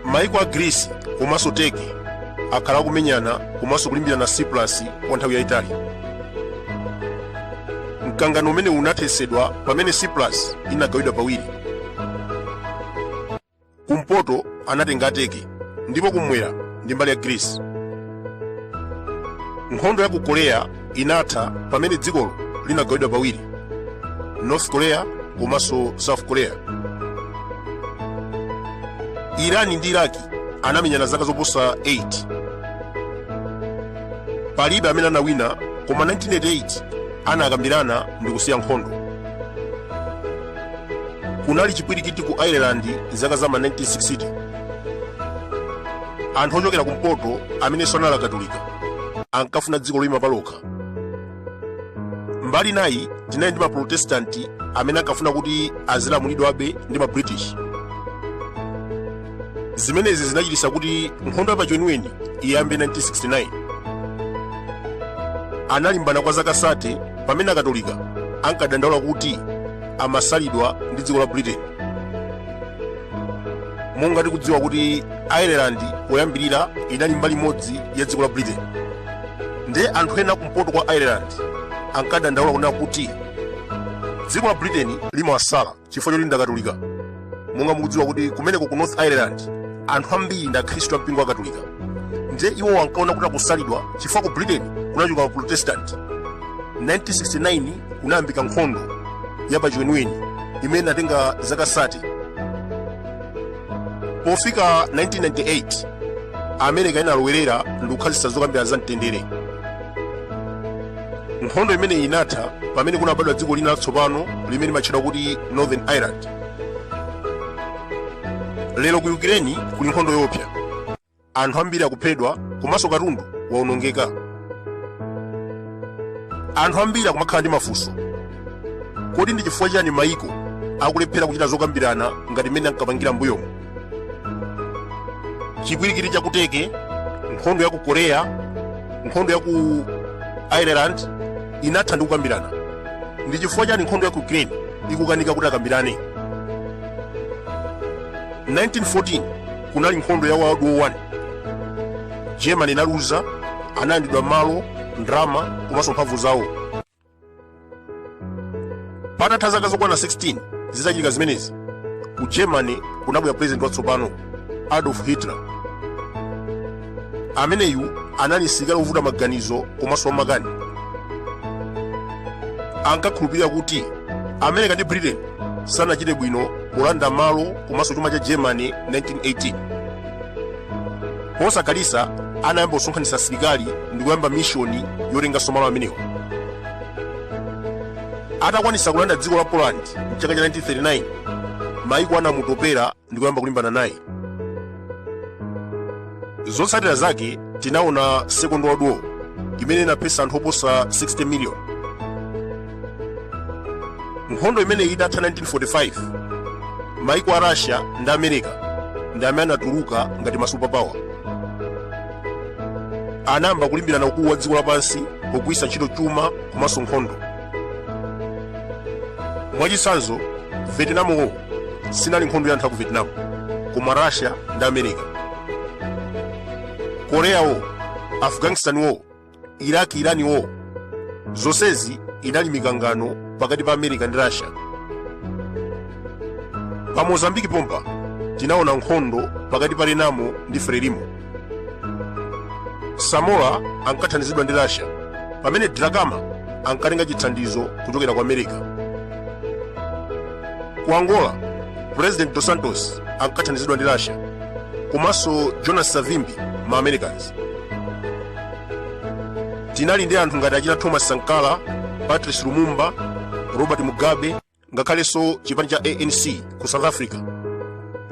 maiko a greece komanso turkey akhala akumenyana komanso kulimbirana cyprus kwa nthawi yayitali mkangano umenewu unathetsedwa pamene cyprus inagawidwa pawiri kumpoto anatenga turkey ndipo kumwera ndi mbali ya greece nkhondo ya ku korea inatha pamene dzikolo linagawidwa pawiri north korea komanso south korea irani ndi iraki anamenyana zaka zoposa 8 palibe amene anawina koma 1988 anakambirana ndi kusiya nkhondo kunali chipwirikiti ku ireland zaka za ma 1960 anthu ochokera kumpoto amenenso anali akatolika ankafuna dziko loyima palokha mbali inayi tinali ndi maprotestanti amene ankafuna kuti azilamulidwabe ndi mabritish zimenezi zinachititsa kuti nkhondo yapachiweniweni iyambe 1969 analimbana kwa zaka 30 pamene akatolika ankadandaula kuti amasalidwa ndi dziko la britain monga tikudziwa kuti ireland poyambirira inali mbali imodzi ya dziko la britain nde anthu ena kumpoto kwa ireland ankadandaula kunena kuti dziko la britain limawasala chifukwa choti ndakatolika monga mukudziwa kuti kumeneko ku north ireland anthu ambiri ndi akhristu a mpingo wa katolika ndiye iwo ankaona kuti akusalidwa chifukwa ku britain kunachuluka maprotestanti 1969 kunayambika nkhondo ya pachiweniweni imene inatenga zaka 30 pofika 1998 america inalowerera ndi kukhazikitsa zokambirana za mtendere nkhondo imeneyi inatha pamene kunabadwa dziko lina latsopano limene limatchedwa kuti northern ireland lero ku ukraine kuli nkhondo yoopsa anthu ambiri akuphedwa komanso katundu waonongeka anthu ambiri akumakhala ndi mafunso kodi ndi chifukwa chani maiko akulephera kuchita zokambirana ngati mmene ankapangira mbuyomo chipwirikiti cha ku turkey nkhondo ya ku korea nkhondo ya ku ireland inatha ndi kukambirana ndi chifukwa chani nkhondo ya ku ukraine ikukanika kuti akambirane 1914 kunali nkhondo ya world war 1 germany inaluza analandidwa malo ndrama komanso mphamvu zawo patatha zaka zokwana 16 zitachitika zimenezi ku germany kunabwera pulezidenti watsopano adolf hitler ameneyu anali msilikali wovuta maganizo komanso wamakani ankakhulupirira kuti america ndi britain sanachite bwino polanda malo komanso chuma cha germany 1918 posakhalitsa anayamba kusonkhanitsa asilikali ndi kuyamba mishoni yotenganso malo amenewa atakwanitsa kulanda dziko la poland mchaka cha 1939 maiko anamutopera ndi kuyamba kulimbana naye zotsatira zake tinaona second world war imene inaphetsa anthu oposa 60 million nkhondo imeneyi itatha 1945 maiko a russia ndi america ndi amene anatuluka ngati masupapawa anayamba kulimbirana ukulu wa dziko lapansi pogwiritsa ntchito chuma komanso nkhondo mwachitsanzo vietnam war sinali nkhondo ya anthu aku vietnam koma russia ndi america korea war afghanistan war iraq iran war zonsezi inali mikangano pakati pa america ndi russia pa mozambiki pompa tinaona nkhondo pakati pa renamo ndi frelimo samora ankathandizidwa ndi russia pamene dhlakama ankatenga chithandizo kuchokera ku america ku angola president dos santos ankathandizidwa ndi russia komanso jonas savimbi ma americans tinali ndi anthu ngati achina thomas sankara patrice lumumba robert mugabe ngakhalenso chipani cha anc ku south africa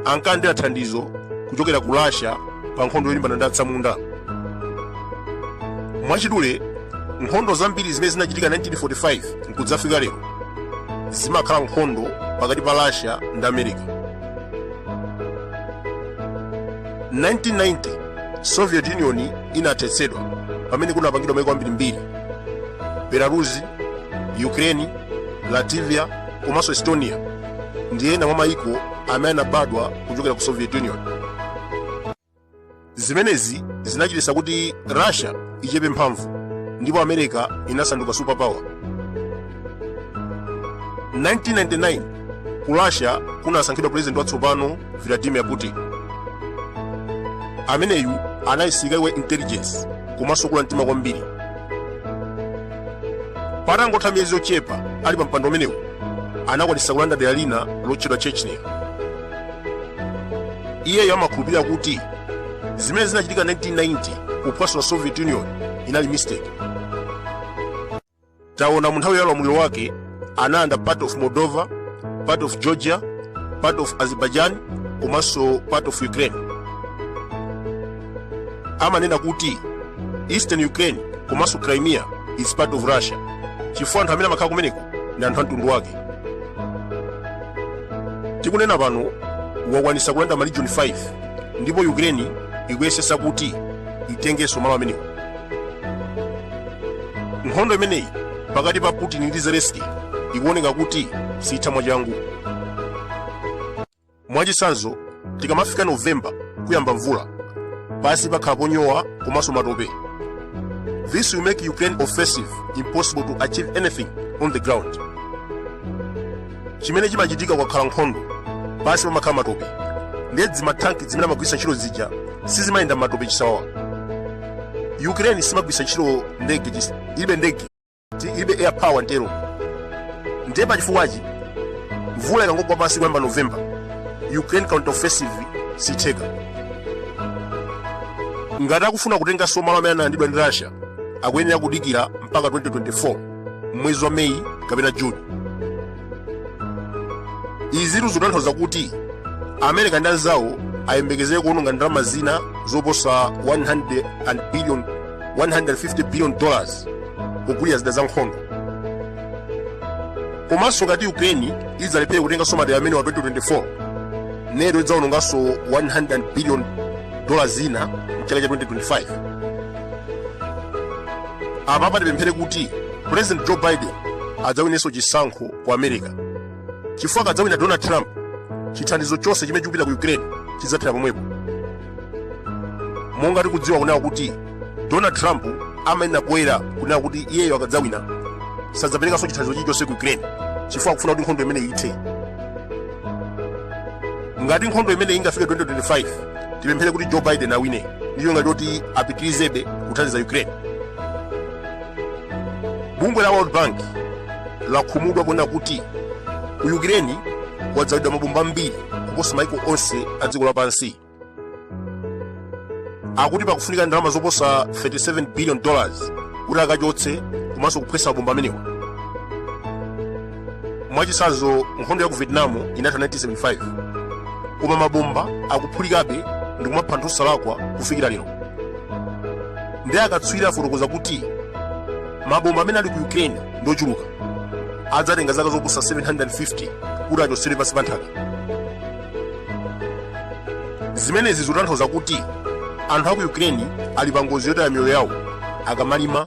ankalandira thandizo kuchokera ku russia pa nkhondo yolimbana ndi atsamunda mwachidule nkhondo zambiri zimene zinachitika 1945 nkudzafika lero zimakhala nkhondo pakati pa russia ndi america 1990 soviet union inathetsedwa pamene kunapangidwa maiko ambirimbiri belarus ukraine latvia komanso estonia ndi ena mwa maiko amene anabadwa kuchokera ku soviet union zimenezi zinachititsa kuti russia ichepe mphamvu ndipo america inasanduka superpower 1999 ku russia kunasankhidwa pulezidenti watsopano vladimir putin ameneyu anali msilikali wa intelligence komanso kula mtima kwambiri patangotha miyezi yochepa ali pa mpando umenewu anakwanitsa kulanda dera lina lotchedwa chechnya iyeyo amakhulupirira kuti zimene zinachitika 1990 kuphwasula soviet union inali mistake taona mu nthawi ya ulamuliro wake analanda part of moldova part of georgia part of azerbaijan komanso part of ukraine amanena kuti eastern ukraine komanso crimea is part of russia chifukwa anthu amene amakhala kumeneko ndi anthu a mtundu wake tikunena pano wakwanisa kulanda maregion 5 ndipo ukraine ikuyesesa kuti itengenso malo amenewo nkhondo imeneyi pakati pa putin ndi zelenski ikuoneka kuti sitha mwachangu mwachitsanzo tikamafika novemba kuyamba mvula pansi pakhala ponyowa komanso matope this will make ukraine offensive impossible to achieve anything on the ground chimene chimachitika kukakhala nkhondo pansi pamakhala matope ndiye dzimathanki zimene amagwiritsa ntchito zija sizimayenda m'matope chisawawa ukraine simagwiritsa ntchito ndege chis- ilibe ndege ti- ilibe air power ntero ndiye pachifukwachi mvula ikangogwa pansi kuyamba novemba ukraine counter offensive sitheka ngati akufuna kutenganso malo amene analandidwa ndi russia akuyenera kudikira mpaka 2024 m'mwezi wa meyi kapena juni izitu zikutanthauza kuti america ndi anzawo ayembekezere kuononga ndalama zina zoposa 100 billion 150 billion dollars kugulira zida za nkhondo komanso ngati ukraine idzalephere kutenganso madera amenewa 2024 nato idzaononganso 100 billion dollars zina mchaka cha 2025 apa tipemphere kuti president joe biden adzawinenso chisankho ku america chifukwa akadzawina donald trump chithandizo chonse chimene chikupita ku ukraine chidzathera pomwepo monga tikudziwa kunena kuti donald trump amanena poyera kunena kuti iyeyo akadzawina sadzaperekanso chithandizo chilichonse ku ukraine chifukwa akufuna kuti nkhondo imeneyi ithe ngati nkhondo imeneyi ingafike 2025 tipemphere kuti joe biden awine ndi cholinga choti apitirizebe kuthandiza ukraine bungwe la world bank lakhumudwa ponena kuti ku ukraine kwadzalidwa mabomba ambiri kuposa maiko onse a dziko lapansi akuti pakufunika ndalama zoposa 37 billion dollars kuti akachotse komanso kuphwesa mabomba amenewa mwachitsanzo nkhondo ya ku vietnam inatha 1975 koma mabomba akuphulikabe ndi kumapha anthu osalakwa kufikira lero ndiye akatswiri afotokoza kuti mabomba amene ali ku ukraine ndi ochuluka adzatenga zaka zoposa 750 kuti achotsedwe pansi pa nthaka zimenezi zikutanthauza kuti anthu a ku ukraine ali pa ngozi yotaya miyoyo yawo akamalima